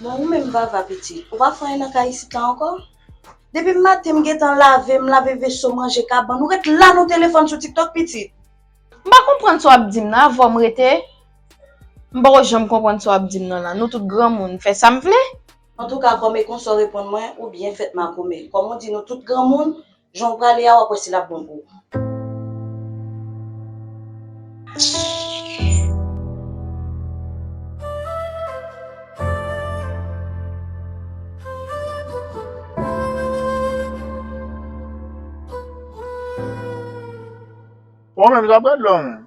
Bon ou menm Vava pitit, ou pa fè anyen nan kay isit la ankò? Depi maten m gentan lave, m lave veso, manje kabann, ou ret la nan telefòn sou tiktok pitit? M pa konprann sa w ap di m nan, avò m rete? M poko janm konprann sa w ap di m nan la, nou tout granmoun, m fè sa m vle? Antouka kòm e konsa w reponn mwen, ou byen fèt makomè. Kòm ou di nou tout granmoun, Jan w prale a wap wè si lap bon pou ou. Ou menm zap gad lò menm.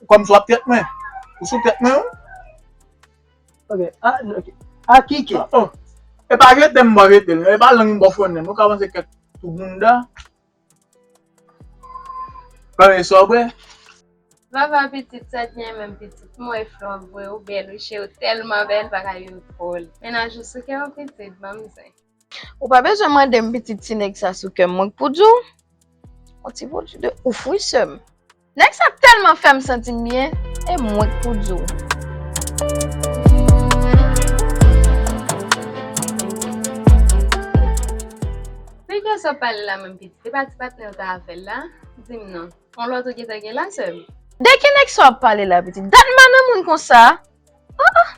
Ou kòm sou ap tèt mwen. Ou sou tèt mwen ou. Ok. A, ok. A ki ke. Oh, oh. E pa jete m bò jete l. E pa lang m bò fronnen l. Ou ka panse kèk tou bounda. Premye sa w bwè. Vava pitit sa t gen menm pitit m wè flò vre ou bèl ou che ou tèlman bèl bagay yo dròl mennaj ou souke ou pitit banm zen. Ou pa bezwen mande m pitit ti nèg sa sou kè m mwen k pou di w on ti pwodui de ouf wi sè m. Nèg sa tèlman fè m santi m byen e mwen k pou di w. Nèg la sa w pale la menm pitit e pa ti patnè w ta avè l la di m non on lòt ou gentan gen la sè m. De ki nèg sa w ap pale la pitit dat m pa nan moun konsa Ah ah!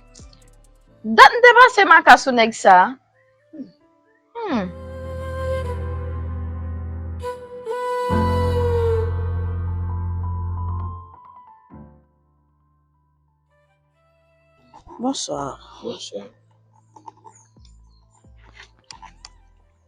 Dat m te pase maka sou nèg sa a. Humm. Bonsoir. Bonsoir.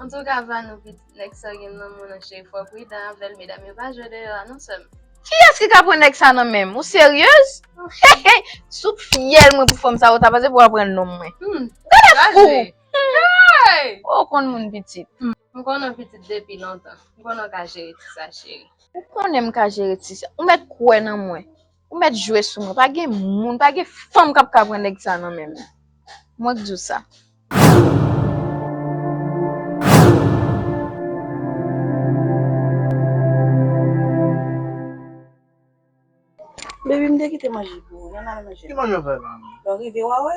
Antouka vanou piti nèg sa gen nan moun an cheri fò pridan avèl medam yo pa jwe deyò a non sèm. Kiyès ki ka pran nèg sa nan menm ou seryez hehey sou fyèl mwen pou fanm sa ou ta panse pou wal pran nonm mwen gade fou heyy ou konn moun pitit. M konnen w pitit depi lontan, m konnen w ka jere ti sa cheri. Ou konnen m ka jere ti sa. Ou mèt kwè nan mwen. Ou mèt jwe sou mwen pa gen moun pa gen fanm kap ka pran nèg sa nan menm mwen k diw sa. Baby m te kite manje pou ou. Ki manje w fè la? Lè w rive wa wè.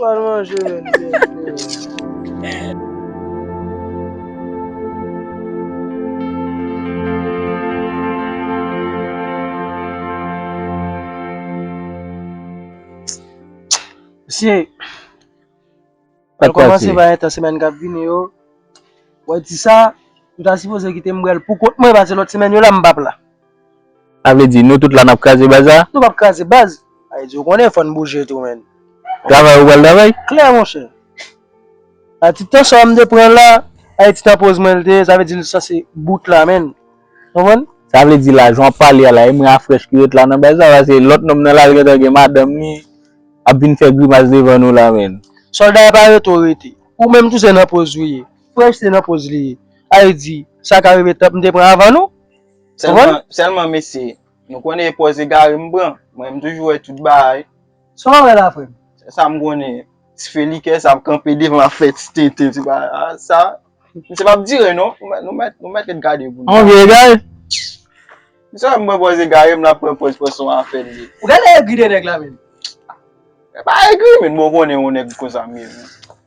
Wal manje menm Diego. Mesye Pral kòmanse pa gentan semèn kap vini yo Wè ti sa Nou ta sipoze kite m brel poukont mwen pase lòt semèn yo la m pap la. Sa vle di, nou tout la nap kraze baz la? Nou pap kraze baz. Ayiti ou konnen fòn bouje tou menn. Travay ou pral travay? Klè monchè. A ti tan sa m te pran la, Ayiti ta poz mwen l te ye, sa vle di l sanse bout la menn. Konprann? Sa vle di la, jan w ap pale a la, e mwen a frèch ki ret la nan baz la? Pase lòt nonm nan la li gentan gen madanm li ap vin fè grimas devan nou la menn. Sòlda yo pa rete w rete. Ou menm tou se nan poz ou ye. Frèch se nan poz li ye. Ayiti, sa ka rive tanp m te pran avan nou? Selman mesye, nou konnen e pòz egare m pran, mwen m toujou wè tout bagay. Sa w pa wè la frè m? Se sa m konnen, ti fè likè sa ap kanpe devan ap fè ti tenten ti bagay a sa. Misye pa ap dire non, nou mèt nou mèt ret gade pou nou. An vye egare? Misye wè m pran pòz egare m l ap pran pòz pran son afè l ye. Ou genlè egri de nèg la menm? Mwen pa egri men bon w konnen yon nèg konsa m ye menm.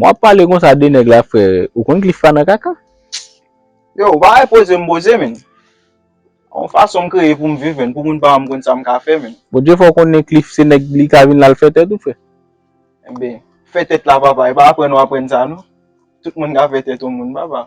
Wap pale konsa de nèg la frere ou konn cliff pa nan kaka. Yo ou pa wè poze m poze menn. On fason m kreye poum viv menn pou moun pa wè m konn sam ka fè menn. Bondye fè w konnen cliff se nèg li ka vin lal fè tèt ou frè. Enben fè tèt la papa e pa aprann ou aprann sa non. Tout moun ka fè tèt on moun papa.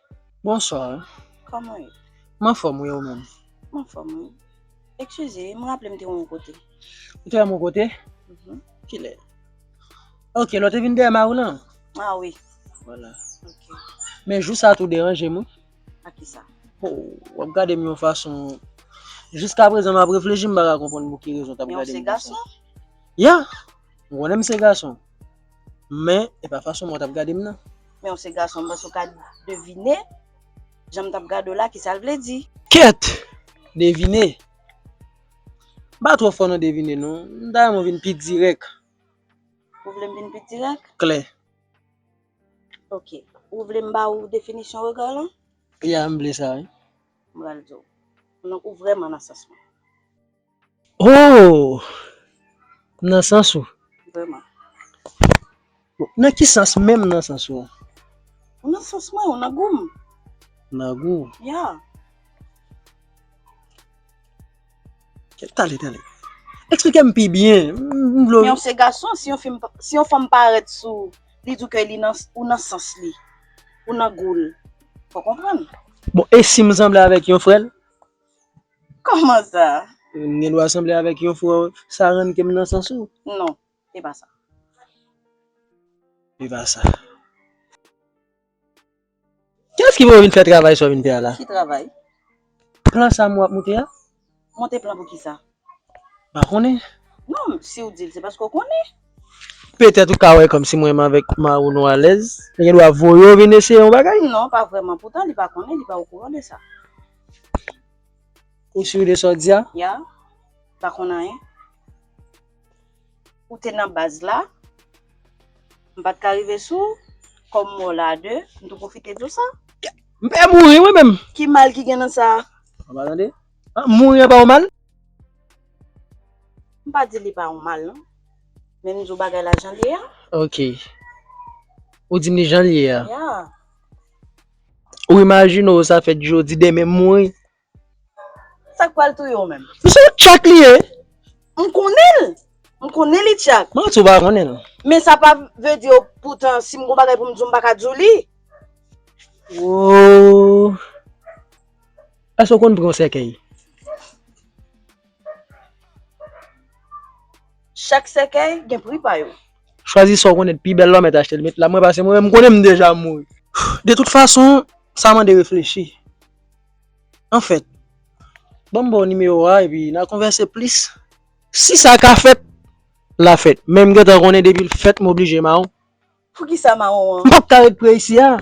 Bonsoir. Kòman ou ye? M anfòm wi e ou menm? M anfòm wi. Ekskize, m raple m te wè w yon kote. Ou te wè m yon kote? Kilè? Ok, lè w te vin dèyè mari w lan? Ah wi. Wala. Ok. Men jou sa tou w deranje m wi. Ak kisa? Ho, w ap gade m yon fason. Jiskaprezan m ap reflechi m pa ka konprann pou ki rezon w t ap gade m konsa. Men w se gason? Yeah! M konnen m se gason. Men, e pa fason mwen t ap gade m nan. Men ou se gason, m panse ou ka devine, jan m t ap gade w la, ki sa l vle di. Kèt! Devine? M pa twò fò nan devine non. M ta renmen w vin pi dirèk. Ou vle m vin pi dirèk? Klè. Ok. Ou vle m ba ou definisyon rega lan? Ya, m vle sa wi. M pral di w. Donk ou vrèman nan sans mwen. Ooh! M nan sans ou. Vrèman. Bon, nan ki sans menm nan sans ou an? Ou nan sans mwen, ou nan gou m. Ou nan gou ou? Ya. Tande, tande. Eksplike m pi byen. M vle w. Men ou se gason, si yon fi m, si yon fanm parèt sou ou, li di w ke li nan, ou nan sans li. Ou nan gou l. Fò w konprann. Bon, e si m sanble avèk yon frè l? Koman sa? M gen dwa sanble avèk yon frè w? Sa rann ke m nan sans ou? Non, e pa sa. E pa sa. Kilès ki voye w vin fè travay sa w vin fè a la? Ki travay? Plan sa m wè w ap moute a? Monte plan pou kisa? Pa konnen? Non, siw dil se paske w konnen. Petèt ou ka wè kòmsi mwen menm avèk mariw nou alèz. Li gen dwa voye w vin eseye yon bagay? Non, pa vrèman. Poutan li pa konnen, li pa okouran de sa. Ou sur de sa w di a? Ya. Pa konn anyen. Ou te nan baz la. M pat ka rive sou w. Kòm m wè w la a de, m tou pwofite di w sa. M pè mouri mwen menm. Ki mal ki gen nan sa? Ou pa tande? Mouri an pa ou mal? M pa di li pa ou mal non. Men m di w bagay la jan l ye a. Ok. Ou di m li jan l ye a? Ya. Ou imajine w sa fèt jodi, demen m mouri? Sa k pral touye w menm? Men se yon tchak li ye! M konnen l! M konnen li tchak. Mwen di w pa konnen l. Men sa pa vle di yo poutan si m gon bagay pou m di w m pa ka di w li. Woo. Èske w konn pran yon sèkèy? Chak sèkèy gen pri pa yo. Chwazi sa w konnen t pi bèl la w mèt achte l met la mwen pase mwen menm m konnen m deja mouri. De tout fason, sa mande reflechi. Anfèt, ban m ba w nimewo a epi n al konvèse plis. Si sa ka fèt, l a fèt. Men m gentan konnen depi l fèt m oblije mawon. Poukisa mawon an? M pap ka ret pre isi a.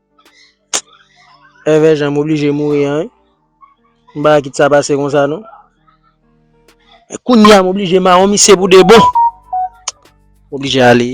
Èvè jan m oblije mouri an wi. M pa ka kit sa pase konsa non. E kounya m oblije mawon misye pou de bon. M oblije ale.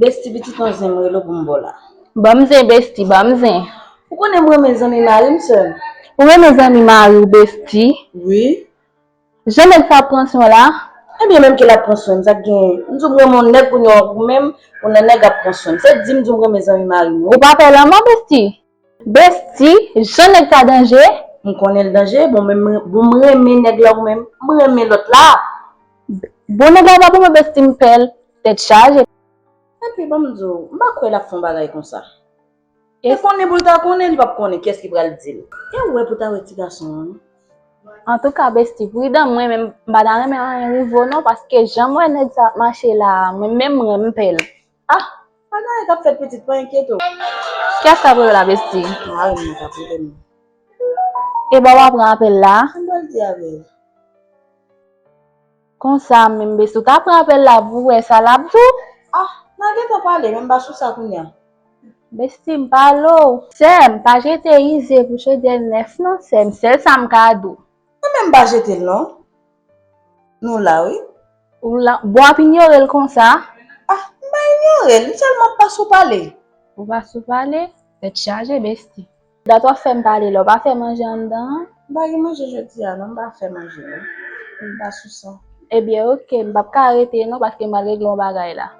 Bestie pitit an zen m rele w pou m ba w la. Banm zen bestie banm zen. Ou konnen m renmen zanmi mari m soeur m. Ou renmen zanmi mari w bestie. Wi. Jan nèg sa ap pran swen w la. Ebyen menm ke lap pran swen m sak genyen. M di w m renmen w nèg pou n yon ou menm ou nan nèg ap pran swen m. Se di m di w m renmen zanmi mari m wi. Ou pa pè lanmò bestie. Bestie, jan nèg sa danje! M konnen l danje, bon men bon m renmen nèg la ou menm, m renmen lòt la! Bon nèg la pa pou mwen Bestie m pè l, tèt chaje! Epi ban m di w, m pa kwè l ap fè yon bagay konsa. Te konnen pou l ta konnen, li p ap konnen kiyès ki pral di l. E w wè pou ta wè ti gason an non! Antouka Bestie pridan, mwen menm m pa ta renmen anyen rive w non paske jan m wè nèg sa ap mache la a, mwen menm m renmen pè l. Ah pa gen anyen kap fèt pitit pa enkyete w. Kiyès kap rele la besti. Marim nan kap rele m. Eba wa pran apèl la. Sa m pral di avèl. Konsa menm besti w ta pran apèl la pou w wè sa lap di w. Ah nan gentan pale men m pa sou sa kounya. Besti m pale w. Sèm pa jete ize pou chodyè nèf non sèm sèl sa m ka di w. Nou menm pa jetel non. Nou la wi. Ou la. Bon ap inyorel konsa. Ah m pa inyorel m selman pa sou pale. Ou pa sou pale? Tèt chaje bestie. Dat wap fèm pale la ou pa fè manje anndan an? M pa gen manje jodi a non m pa fè manje non. M pa sou sa. Ebyen ok m pap ka rete non paske m pral regle yon bagay la.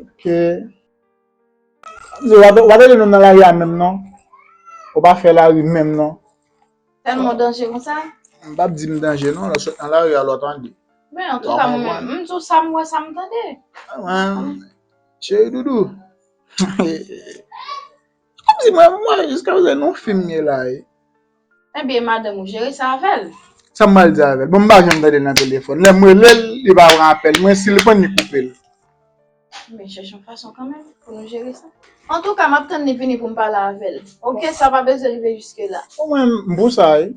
Ok. Yo wap wap rele nou nan lari a menm non. Ou pa fè lari menm non. Tèlman w danje konsa? M pap di m danje non, lè w sot nan lari a lè w tande. Men antouka mwen menm, m di w sa m wè sa m tande. Cheri doudou. Kòm si mwen mwen jiska prezan nou fim ye la ye. Ebyen madanm ou jere sa avèl. Sam pral di avèl bon m pa janm tandel nan telefòn lèm relel li pa pran apèl mwen sil prann li koupel. Men chèche yon fason kanmenm pou nou jere sa. Antouka map tann li vini poum pale avèl ok sa pa bezwen rive jiske la. Bon mwen m pou sa wi.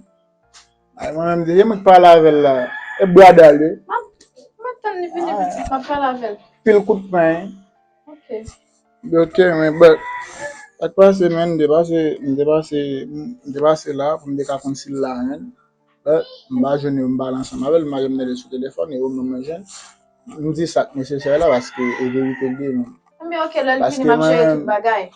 Ay mwen menm depi mwen k pale avèl la e bradal wi. Map tann li vini pitit map pale avèl. Pil kout peny. Ok men but sak pase men m te pase m te pase m te pase la pou m te ka konn si l la men but m pa jwenn yo m pale ansanm avè l m pa janm mele sou telefòn e ou menm mwen jwenn m di sak nesesè la paske e verite l ye men paske mwen menm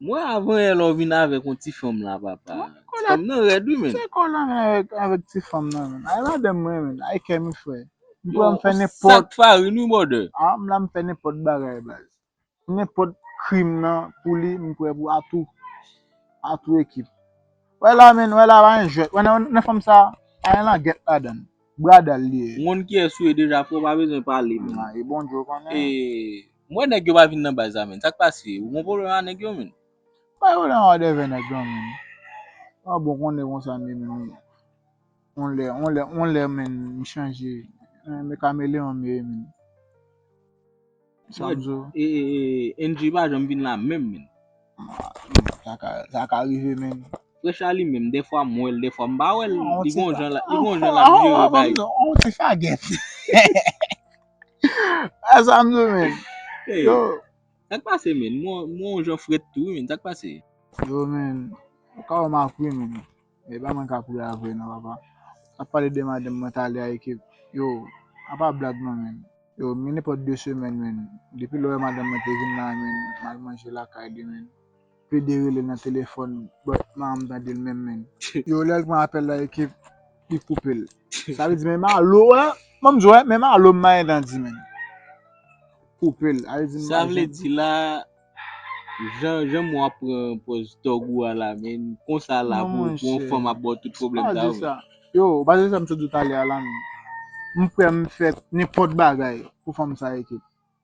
Mwen avan yè la ou vin avèk yon ti fanm la papa. Ti fanm nan rèd wi menn. Kisa kòlè an gen avèk ti fanm nan menn? Ay madanm mwen menn, ay kè m fre. M pran m fè nenpòt. Ou sak farin wi brother. A m la m fè nenpòt bagay baz. Nenpòt krim nan pou li m prè pou a tou. A tou ekip. Wè la menn, wè la pa gen jwèt. Wè nan fanm sa, pa gen langèt ladan l. Bradal li ye. M konn kiyès ou ye deja frè w pa bezwen pale menn. E bon Dye w konnen. E. M wè nèg yo pa vin nan baz la menn sak pase ou gon pwoblèm a nèg yo menn. Bay ou la an dèvè nèg lan menn pa bon konne konsa menn on lè on lè on lè menn m chanje me kameleon m ye menn sam zo. Endjy pa janm vin la menm menn. Sa ka rive menn. Fresh la li menm dèfwa m wèl dèfwa m pa wèl li gon jan li gon jan lap jere bagay. On ti fagèt. A sa m sou menn. Hey yo. Sak pase menn? Mwen on jan frèt tou wi menn sak pase? Yo menn. Ou ka wè m ak wi menn. E pa mwen kap ri a vre nan papa. Ap pale de madanm mwen tale a ekip. Yo. A pa blag non menn. Yo men nenpòt 2 semèn menn. Depi lè w wè madanm mwen te vin la menn. M al manje lakay li menn. pede rele nan telefòn but man m tandel menm menn. Yo lèl pran apèl la ekip li koupel sa vle di men malo a banm diw wè men malo m manyen dan di menn koupel sa vle di sa vle di la jan jan mou ap pran pòz tòg ou a la menn konsa la pou pou yon fanm ap baw tout pwoblèm sa vre yo ou pa tande sa m t di w talè a la menn m prè m fè nenpòt bagay pou fanm sa ekip.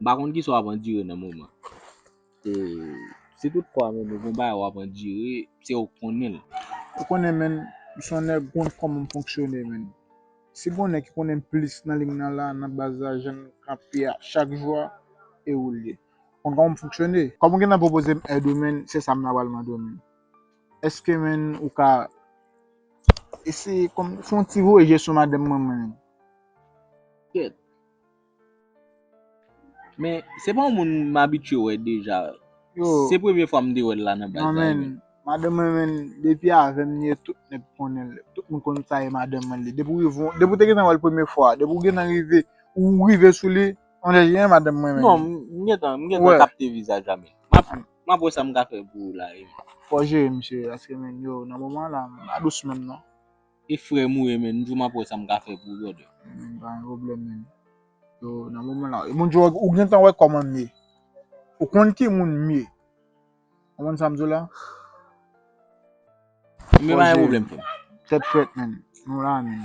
M pa konn kisa w ap andire nan moman. E si tout fwa menm ou gen bagay w ap andire, se ou k konnen l. Ou konnen menn, m se yon nèg k konn kòman m fonksyone menn. Si gon nèg ki konnen m plis nan lig nan la, nan baz la, jan n kanpe a chak jou a, e ou l ye. Ou konn kòman m fonksyone. Kòm ou gentan pwopoze m èd ou menn, se sa m ta pral mande w menn. Èske menn ou ka eseye fè yon ti voye je sou madanm mwen menn. Kèt. Men se pa yon moun m abitye wè deja. Se premye fwa m te wè l la nan baz la. Non men, madanm mwen menm depi avè m li ye tout nèg konnen l. Tout moun konn sa e madanm mwen li. Depi w te gentan wè l premye fwa, depi w gentan rive, ou rive sou li, on dirait e madanm mwen menm. Non, m gentan, m gentan kapte vizaj la men. M ap wè sa m ka fè pou ou la e. Fò w jere misye paske men yo nan moman an la m pa dous menm non. E frèm ou ye menn, m jou map wè sam ka fè pou ou brother. Amen pa gen problem menn. Yo nan moman la wi. Bon Dieu ou gentan wè koman m ye. Ou konn ki moun m ye. Konprann sam diw la? Ebyen pa gen problem frèm. Tèt frèt menn. Nou la menn.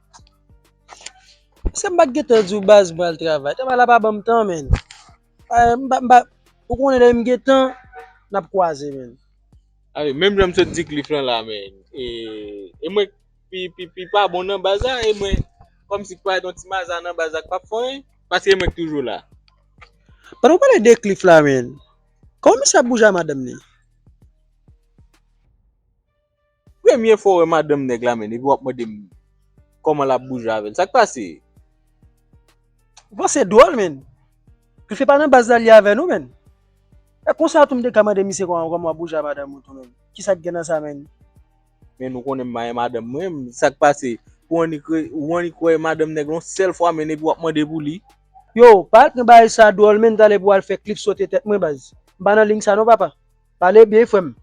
Eske m pa t gentan di w baz m pral travay? Travay la pa ban m tan menn. Ou konnen lè m gen tan, n ap kwaze menn. Awi, menm jan m sot di Cliff lan la menn. E mwen k pi pa bon nan baz la, e mwen kòm si k parèt yon ti maza nan baz la k pa p fè anyen. Paske e mwen k toujou la. Pandan w pale de Cliff la menn, kòman misye ap bouje a madanm li? Premye fwa wè madanm nèg la menn epi wap mandem kòman lap bouje avèl sak pase. Ou panse dwòl menn. Ke se pa nan baz la li avè nou menn. E konsa tou mte ka mande misye kòman wap bouje a madanm ou tou menn. Kisak gen nan sa menn. Menn ou konnen m mayen madanm mwen menn sak pase pou annik re ou annik wè madanm nèg la yon sèl fwa menn epi wap mande pou li. Yow pa pran bagay sa dwòl menn talè pou wal fè klip sote tèt mwen baz. M pa nan ling sa non papa. Pale byen frèm.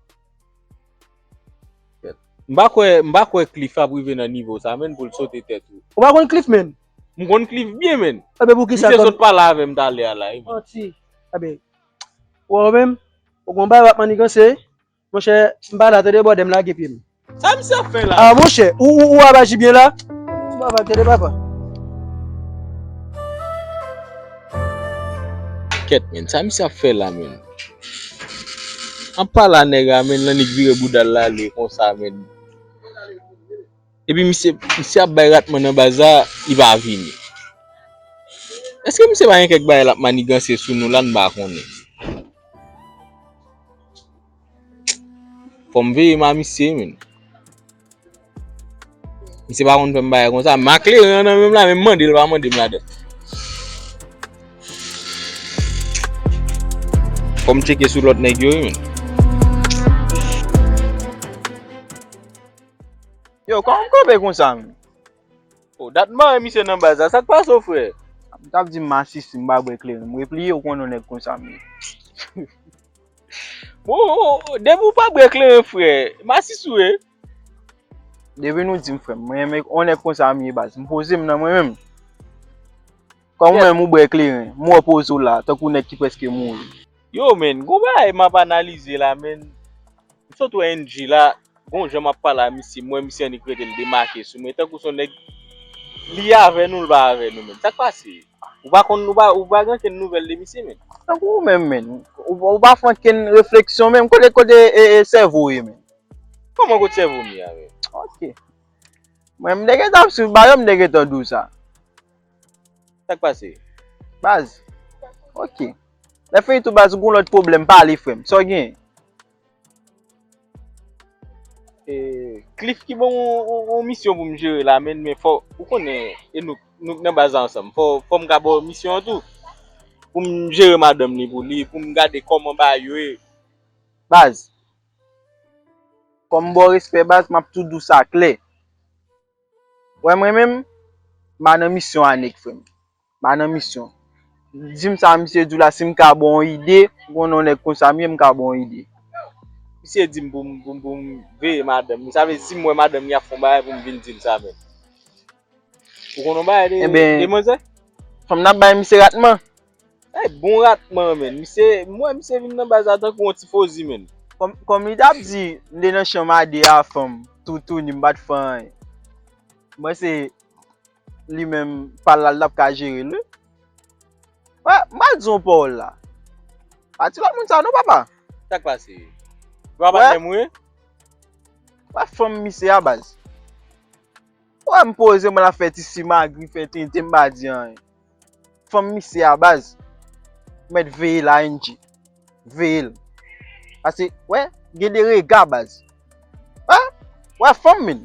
M pa kwè, m pa kwè Cliff ap rive nan nivo sa menn pou l sote tèt ou. Ou pa konn Cliff menn? M konn Cliff byen menn. Ebyen poukisa Misye sot pale avè m talè a la wi. Manti. Ebyen, ou wè ou menm, ou gen yon bagay w ap maniganse, monchè, m pa la tande bòdè m lage pye m. Sa misye ap fè la? A monchè, ou, ou, ou ap aji byen la? Ou pa va tande papa. Kèt menn, sa misye ap fè la menn? Apa la nèg la menn lan li k vire boudal la ale konsa menn epi misye misye ap bay ratman nan baz la li pa vini eske misye pa gen kèk bagay lap maniganse sou nou la m pa konnen fòm veye m a misye menn. Mwen se pa konn fèm bagay konsa. Ma kle ren an nan menm la men mwen mande l pa mande m la dan. Fò m cheke sou lòt nèg yo wi men. Yo kòman m kanpe konsa menm? O dat m pa wè misye nan baz la. Sa k pase w frè? Ou tap di m masisi m pa bwè kleren. M repliye ou konnen w nèg konsa m ye. Wouwou, depi ou pa bwè kleren frè, masisi ou ye. Depi nou di m frè m, mwen renmen yon nèg konsa m ye baz, m poze m nan mwen menm. Kòm ou menm ou bwè kleren, m wè w poze w la, tankou nèg ki prèske mouri. Yo men, gon bagay m ap analize la men, m sot wè NG la, Bon jan map pale a misye m wè misye annik rete l demake sou mwen tankou son nèg li avè nou l pa avè nou menn sak pase ou pa konn ou pa gen ankenn nouvèl de misye menn. Tankou ou menm menn ou pa fè ankenn refleksyon menm kote kote sèvo w ye menn. Kòman kot sèvo m ye a menn. Ok mwen m te gentan ap swiv ba yo m te gentan di w sa. Sak pase. Baz ok lè fini tou baz ou gon lòt pwoblèm pale frè m sa w genyen. E klif ki bon ou misyon pou m jere la men men fò ou konnen e nou nou nan baza ansanm fò fò m gabo misyon tou pou m jere madanm ni pou li pou m gade kòman ba yo e baz fò m bò respè baz m ap tou dou sa klè wè mwen menm m pa nan misyon anik frè m m pa nan misyon. Di m sa misye di w la si m ka ba w yon ide, m konnen yon nèg konsa m ye m ka ba w yon ide. Misye di m pou m pou m veye madanm li. Sa vle di si m wè madanm li ap fè yon bagay pou m vin di l sa menm. Ou konnen yon bagay de manzè? Fanm nan ap bay misye ratman. Ey bon ratman menn. Misye, m wè misye vin nan baz la tankou yon tifozi menn. Kòm li ta ap di m te nan chanm a 2 a fanm toutouni m pa t fè anyen. M panse. li menm pal la li tap ka jerel wi. Wè mal di yon pawòl la. Pa di lòt moun sa non papa. Sak pase? Vwa pa menm wi. Wè fanm misye a baz. Wè m poze mwen la fè ti simagri fè tenten m pa di anyen. Fanm misye a baz. Ou mèt veye l ING. Veye l. Pase wè gen de rega baz. Wè fanm min.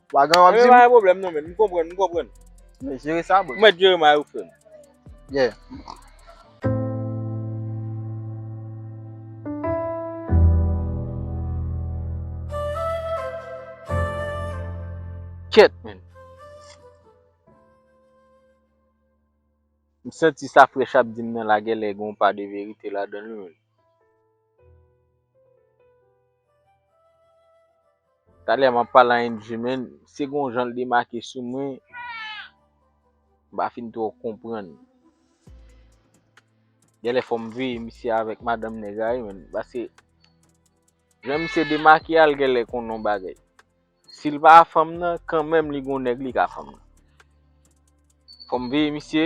Wagan wap di m. Mwen pa gen pwoblèm non men m konprann m konprann. Mwen jere sa bro. Ou mèt jere may ou frèm. Yeah. Kèt menn. M santi sa frèch ap di m nan lagè lè gen yon pa de verite ladan l wi menn. Talè map pale a Angie men se gon jan l demake sou mwen m pa fin twò konprann. Genlè fò m veye misye avèk madanm nèg la wi men paske jan misye demake a l genlè konn yon bagay. Sil pa fanm nan kanmenm li gon nèg li ka fanm nan. Fòm veye misye.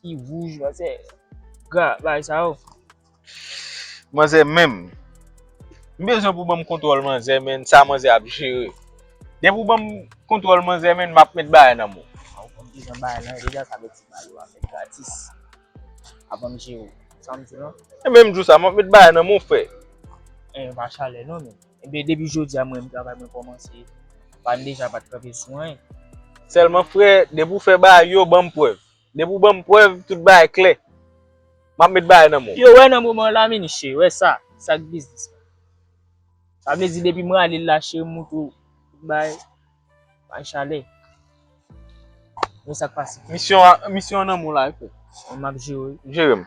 Ki wouj manzè gra bay sa yo. Manzè menm. M bezwen pou banm kontwòl manzè menn sa manzè ap jere. Depi ou banm kontwòl manzè menn map met bagay nan menw. Ou konn kijan bagay lan ye deja sa vle di bagay yo a fèt gratis. Ap banm jerew. Sa m di lan. E menm jou sa map met bagay nan menw frè. An yo pa chalè non menm. Ebyen depi jodi a mwen travay mwen kòmanse pa n deja pat kanpe sou anyen. Sèlman frè depi ou fè bagay yo banm prèv. Depi ou banm prèv tout bagay klè. Map met bagay nan men w. Yo wè nan moman la mini cheri wè sa sak biznis la. Sa vle di depi m ralel la cheri m montre w tout bagay bay chalè. Wè sak pase. Misyon an nan men w la. Map jere w. Jere m.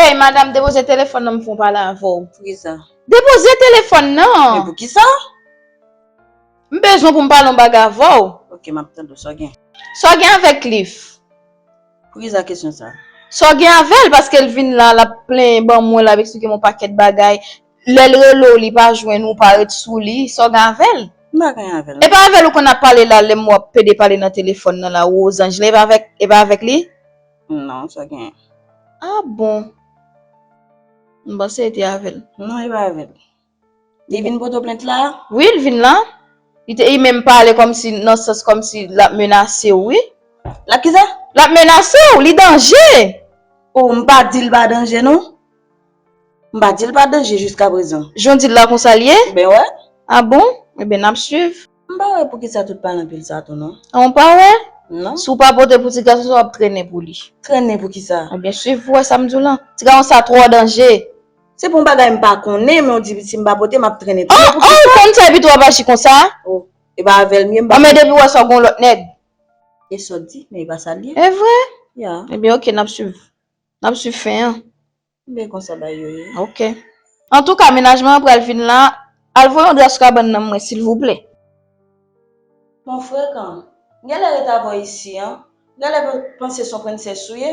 Hey madam depoze telefòn nan m fon pale avè w. Poukisa? Depoze telefòn nan! Men poukisa? M bezwen pou m pale yon bagay avè w. Ok map tande w sa w gen? Sa w gen avè Cliff? Poukisa kesyon sa? Sa w gen avè l paske l vin la lap plenyen ban mwen lap eksplike m yon pakèt bagay. Lèl relew li pa jwenn ou pa ret sou li sa w gen avèl? M pa gen avèl non. Epa avèl ou konn ap pale la lèm wè wap pede pale nan telefòn nan la Rosange lan epa avèk epa avèk li? Non sa gen. Ah bon M panse e te avèl. Non epa avèl. Li vin poto plent la? Wi l vin la. Li te e menm pale kòmsi nan sans kòmsi lap menasew wi. Lap kisa? Lap menasew, li danje! Oh m pa dil pa danje non. M pa dil pa danje jiska prezan. Jan w di l la konsa l ye? Ben wè. A bon? Enben n ap swiv. M pa wè poukisa tout pale anpil sa tou non. A w pa wè? Non. Si w pa pote pou ti gason sa w ap trennen pou li. Trennen pou kisa? Enben swiv pou w wè sa m di w lan. Ti gason sa twò danje. Se pou yon bagay m pa konnen men w di si m pa pote m ap trennen tou. An! An! Ou konn sa epito w ap aji konsa? O! E pa avè l m ye m pa. Anmède epi w wè si w ap gen yon lòt nèg. E sa w di? Men e pa sa l ye. Evre? Ya. Enben ok n ap swiv. Nap swiv fen an. M byen konsa bay yo ye. Ok. Antouka menajman an pral fin la Al voye yon dra sou kabann nan mwen silvouplè. Bon frekan. M genlè ret avèw isi an. M genlè panse son princess ou ye.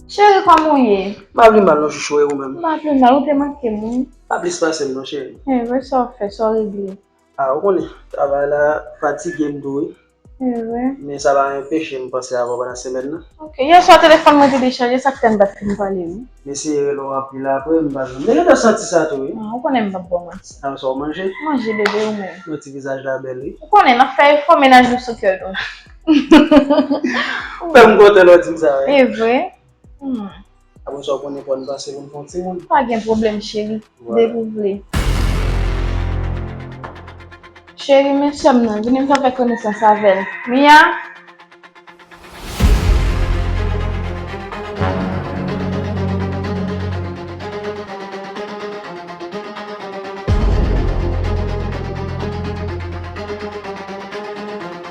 Cheri kòman ou ye? M pa vle mal non chouchou e ou menm? M pa vle mal, ou te manke m wi. Pa plis pase m non cheri. Evre sa w fè, sa w regle? A ou konnen, travay la fatige m tou wi. Evre? Men sa pa enpeche m panse avè w pandan semèn nan. Ok, yè swa telefòn mwen te dechaje sa k fè m pa t fin pale wi. M eseye rele w anpil apre m pa jwenn. M te gentan santi sa tou wi. A ou konnen m pa p ba w manti. A sa w manje? M manje bebe, ou menm? M wè ti vizaj la bèl wi. Ou konnen, n ap fè efò, mennaj nou sou kè nou. Ou fè m kontan lè w di m sa. E vre? Apre sa w konnen pou n pase pou n fè yon timoun. Pa gen pwoblèm cheri, depi w vle. Cheri men sè m nan, vini m fè w fè konesans avè l. Mia!